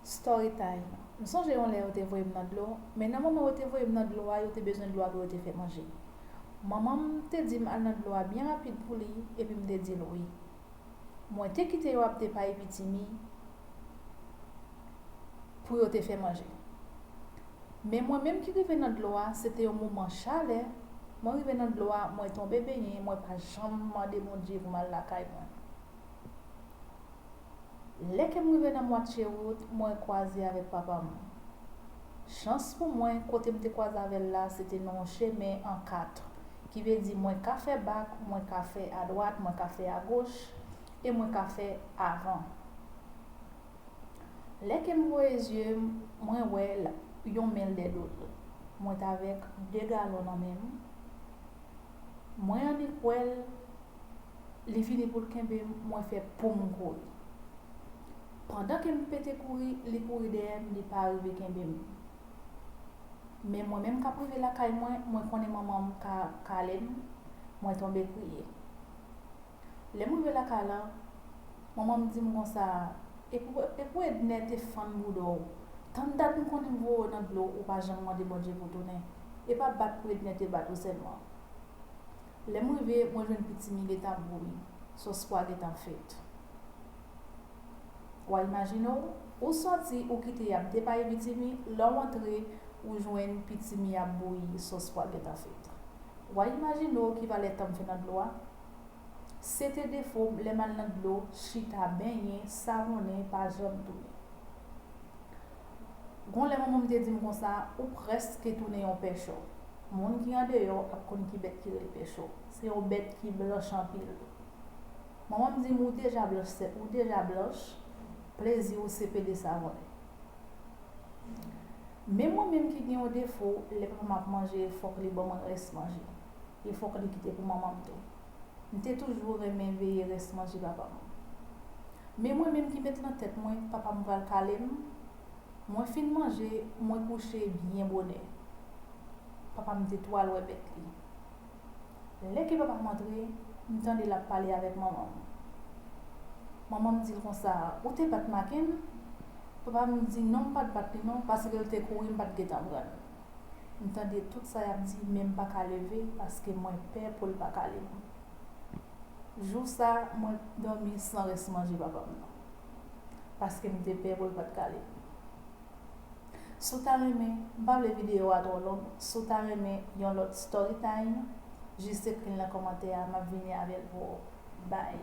Storytime, M sonje yon lè yo te voye m nan dlo, men nan moman yo te voye m nan dlo a yo te bezwen dlo a pou yo te fè manje. Manman m te di m al nan dlo a byen rapid pou li epi m te di l wi. Mwen te kite yo ap depayi pitimi pou yo te fè manje. Men mwen menm ki rive nan dlo a se te yon moman chalè, mwen rive nan dlo a mwen tonbe benyen mwen pa janm mande Bondye pou m al lakay mwen. Lè ke m rive nan mwatye wout, mwen kwaze avèk papa m. Chans pou mwen, kote m te kwaze avè l la, se te nan yon chemen an 4, ki vle di mwen ka fè bak, mwen ka fè adwat, mwen ka fè agoch, e mwen ka fè avan. Lè ke m voye zye m, mwen wè l, yon men l dè do l. Mwen t avèk 2 galon nan men m. Mwen annik wè l, Li vini pou l kenbe m mwen fè poum kouri. Pandan ke m pete kouri li kouri dèyè m li pa rive kenbe m. Men mwen menm kap rive lakay mwen mwen konnen manman m ka kale m mwen tonbe kriye. Lè m rive lakay lan manman m di m konsa e pou Ednè te fann bouda w tann dat m konnin voye w nan dlo ou pa janm mande Bondye pou tounen e pa bat pou Ednè te bat ou sèlman. Lèm rive mwen jwenn pitimi gentan bouyi, sos pwa gentan fèt. Wa imajine w, ou sòti ou kite yap depayi pitimi, lèw antre ou jwenn pitimi ap bouyi, sos pwa gentan fèt. Wa imajine w ki valè tanm fè nan dlo a? Sete defom lèm al nan dlo chita benyen, savonnen, pa janm tounen. Gon lè manman m te di m konsa, ou prèske tounen yon pèchò. Moun ki andeyò ap konn ki bèt ki rele pèchò. Se yon bèt ki blanch anpil. Manman m di m, ou deja blanch sè, ou deja blanch, plezi ou se pede savonnen. Men mwen menm ki gen yon defo, lè papa m ap manje fòk li ban m rès manje. E fòk li kite pou manman m tou. M te toujou renmen veye rès manje papa m. Men mwen menm ki met lan tèt mwen papa m pral kale m, mwen fin manje mwen kouche byen bonè. Papa m te tou al wè bèt li. Lè ke papa m antre, m tande l ap pale avèk manman m. Manman m di l konsa, ou te bat Makenn? Papa m di non m pat bat li non paske l te kouri m pat gentan pran l. M tande tout sa yap di men m paka leve paske mwen pè pou l pa kale m. Jou sa mwen dòmi san rès manje papa m nan. Paske m te pè pou l pat kale m. Si w ta renmen, m pa vle videyo a twò long, si w ta renmen yon lòt storytime, jis ekri l nan kòmantè a map vini avè l pou ou. Bye.